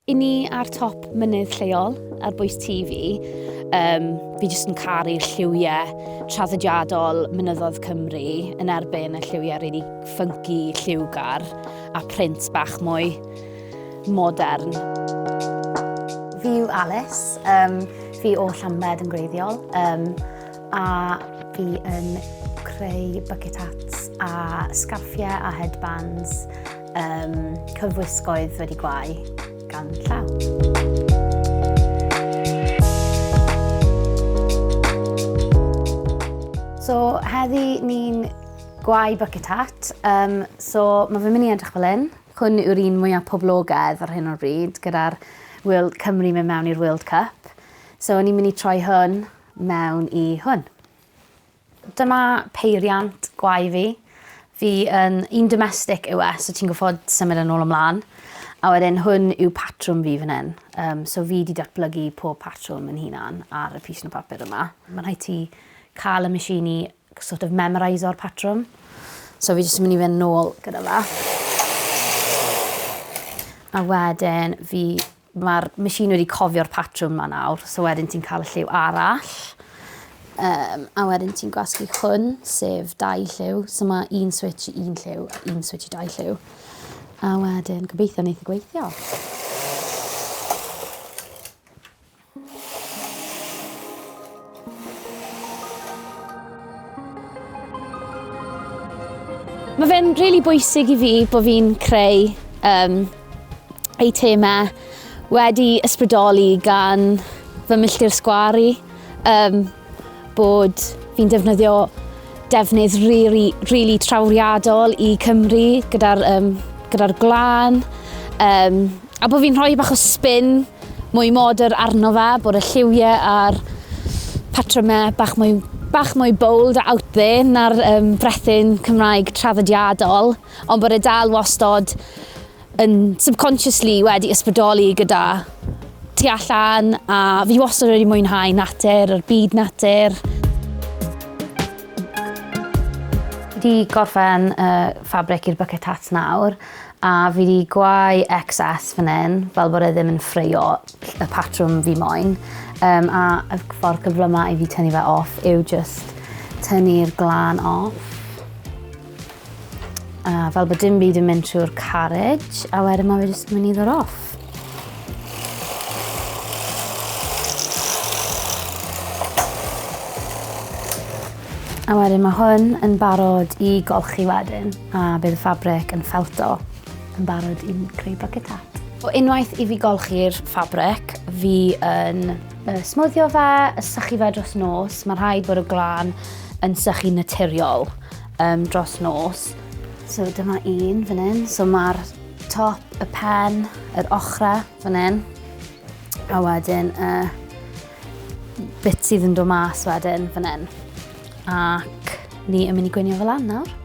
I ni ar top mynydd lleol, ar bwys TV, um, fi jyst yn caru'r lliwiau traddodiadol mynyddodd Cymru yn erbyn y lliwiau rili really ffynci, lliwgar a print bach mwy modern. Fi yw Alice, um, fi o Llambed yn greiddiol um, a fi yn creu bucket hats a scarffiau a headbands Um, cyfwisgoedd wedi gwau gan llaw. So heddi ni'n gwau bucket hat. Um, so mae fy mynd i edrych fel hyn. Hwn yw'r un mwyaf poblogaidd ar hyn o'r bryd gyda'r World Cymru mewn mewn i'r World Cup. So ni'n mynd i troi hwn mewn i hwn. Dyma peiriant gwae fi. Fi yn un domestic yw e so ti'n goffod symud yn ôl ymlan. A wedyn hwn yw patrwm fi fan hyn. Um, so fi di datblygu pob patrwm yn hunan ar y pys o papur yma. Mae'n rhaid ti cael y machine i sort of memorise o'r patrwm. So fi jyst yn mynd i fynd nôl gyda fe. A wedyn fi Mae'r machine wedi cofio'r patrwm 'ma nawr, so wedyn ti'n cael y lliw arall. Um, a wedyn ti'n gwasgu hwn, sef dau lliw. So mae un switch i un lliw, un switch i dau lliw. A wedyn, gobeithio wneud y gweithio. Mae fe'n rili really bwysig i fi bod fi'n creu um, eitemau wedi ysbrydoli gan fy milltir sgwari um, bod fi'n defnyddio Defnydd rili, rili trawriadol i Cymru gyda'r um, gyda gwlân. Um, a bod fi'n rhoi bach o spin mwy modern arno fe, bod y lliwiau a'r patrymau bach mwy, bach mwy bold a out there na'r um, brethyn Cymraeg traddodiadol, ond bod e dal wastod yn subconsciously wedi ysbrydoli gyda tu allan a fi wastad wedi mwynhau natur, yr byd natur. Wedi gorffen y ffabric i'r bucket hat nawr a fi wedi gwau excess fan hyn fel bod e ddim yn ffreio y patrwm fi moyn um, a y ffordd cyflymau i fi tynnu fe off yw just tynnu'r glan off. A fel bod dim byd yn mynd trwy'r carriage, a wedyn mae fe jyst yn mynd i ddod off. A wedyn mae hwn yn barod i golchi wedyn a bydd y ffabric yn felto yn barod i'n creu bucket hat. O unwaith i fi golchi'r ffabric, fi yn Y smwddio fe, y sychu fe dros nos, mae rhaid bod y glan yn sychu naturiol um, dros nos. So dyma un fan hyn, so mae'r top, y pen, yr ochrau fan hyn, a wedyn y uh, bit sydd yn dod mas wedyn fan hyn. Ac ni yn mynd i gweinio fel lan nawr.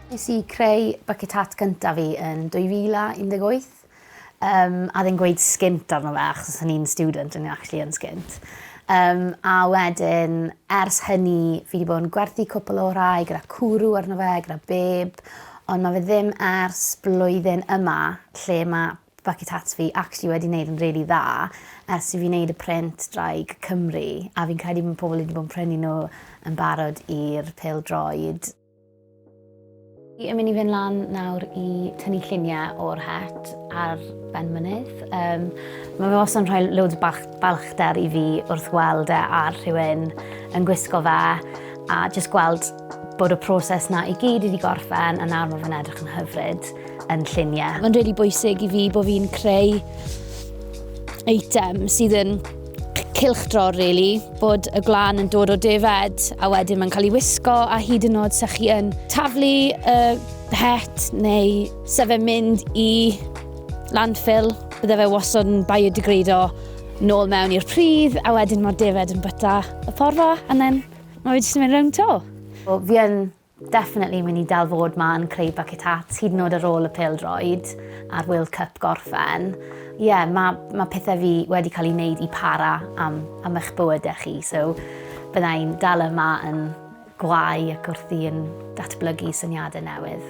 Nes i creu bucket hat gyntaf fi yn 2018 um, a ddim gweud sgint arno fe achos o'n i'n student yn actually yn sgint. Um, a wedyn, ers hynny, fi wedi bod yn gwerthu cwpl o rai gyda cwrw arno fe, gyda beb, ond mae fe ddim ers blwyddyn yma lle mae bucket hats fi actually wedi wneud yn really dda ers i fi wneud y print draig Cymru a fi'n credu bod pobl wedi bod yn prynu nhw yn barod i'r pêl droed. Fi yn mynd i fynd lan nawr i tynnu lluniau o'r het ar ben mynydd. Um, mae fe os yn rhoi loads bach balchder i fi wrth weld e ar rhywun yn gwisgo fe a jyst gweld bod y proses na i gyd wedi gorffen a nawr mae fe'n edrych yn hyfryd yn lluniau. Mae'n rili really bwysig i fi bod fi'n creu eitem sydd yn cylchdrol really, bod y glan yn dod o defed a wedyn mae'n cael ei wisgo a hyd yn oed sa'ch chi yn taflu y het neu sa fe mynd i landfill, bydde fe wastad yn biodegrado nôl mewn i'r pridd a wedyn mae'r defed yn byta y porfa a then mae fe jyst yn mynd rownd to. Wel, fi yn Definitely mynd i dal fod ma yn creu bucket hats hyd yn oed ar ôl y pêl-droed a'r World Cup gorffen. Ie, ma' ma' pethe fi wedi cael eu neud i para am am eich bywyde chi, so bydda i'n dal yma yn gwau ac wrthi yn datblygu syniade newydd.